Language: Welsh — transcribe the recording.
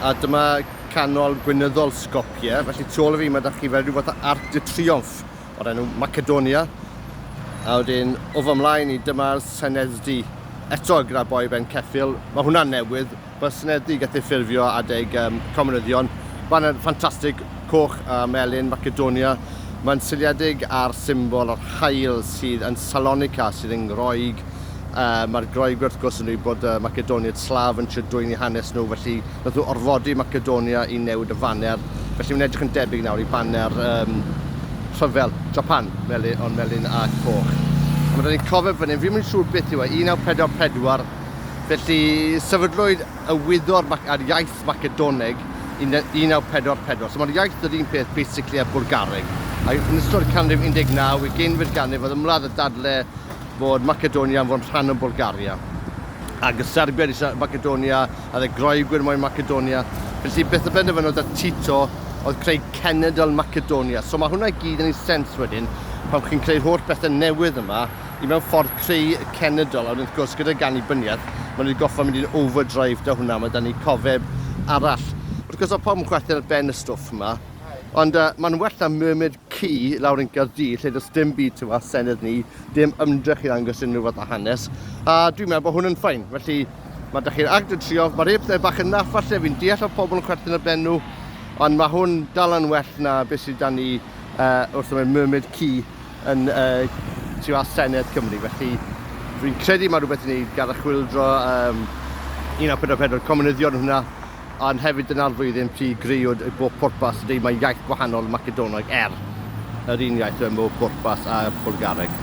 A dyma canol gwynyddol Skopje, felly tu ôl i fi mae da chi fel rhyw fath o arc de triomf o'r enw Macedonia. A wedyn o fy mlaen i dyma'r Senedd-du eto gyda boi ben ceffil. Mae hwnna'n newydd, mae'r Senedd-du gath ei ffurfio adeg um, comunyddion. Mae'n ffantastig, coch a melyn Macedonia. Mae'n seiliedig ar symbol yr haul sydd yn Salonika, sydd yn Groeg. Uh, Mae'r Groeg wrth gwrs yn dweud bod uh, Macedoniaid Slav yn trio dwyni hanes nhw, felly nath nhw orfodi Macedonia i newid y faner. Felly mae'n edrych yn debyg nawr i baner um, rhyfel Japan, meli, ond melyn a coch. A mae ni'n cofio fan hyn, fi'n mynd siŵr beth yw e, 1944, felly sefydlwyd y wyddor ar iaith Macedoneg 1944. So mae'r iaith yr un peth basically a Bwlgareg. A yn ystod y canrif 19, y geinfed ganrif, oedd ymladd y dadle fod Macedonia yn fod yn rhan o Bwlgaria. Ac y Serbiaid eisiau Macedonia, a dde Groegwyr moyn Macedonia. Felly beth y benderfynodd y Tito oedd creu cenedl Macedonia. So mae hwnna i gyd yn ei sens wedyn pan chi'n creu'r holl bethau newydd yma i mewn ffordd creu cenedl, a wedyn wrth gwrs gyda'r gannibyniaeth, maen nhw wedi gorfod mynd i'n overdrive 'da hwnna, mae 'da ni cofeb arall. Wrth gwrs mae pawb yn chwerthin ar ben y stwff yma, ond uh, mae'n well na murmured ci lawr yn Caerdydd lle does dim byd tu fas senedd ni, dim ymdrech i ddangos unrhyw fath o hanes, a dwi'n meddwl bod hwn yn ffain. Felly mae da chi'r agd yn trio, mae rhai pethau bach yn naff falle, fi'n deall o pobl yn chwerthin ar ben nhw, ond mae hwn dal yn well na beth sydd da ni uh, wrth ymwneud murmured ci yn y tu fas Senedd Cymru, felly rwy'n credu mae rhywbeth i wneud gan y chwildro um, 1944 comunyddion hwnna, ond hefyd dyna'r flwyddyn pryd greuwyd y bob pwrpas, neu mae iaith gwahanol Macedonog er yr un iaith mewn bob pwrpas a Bwlgareg.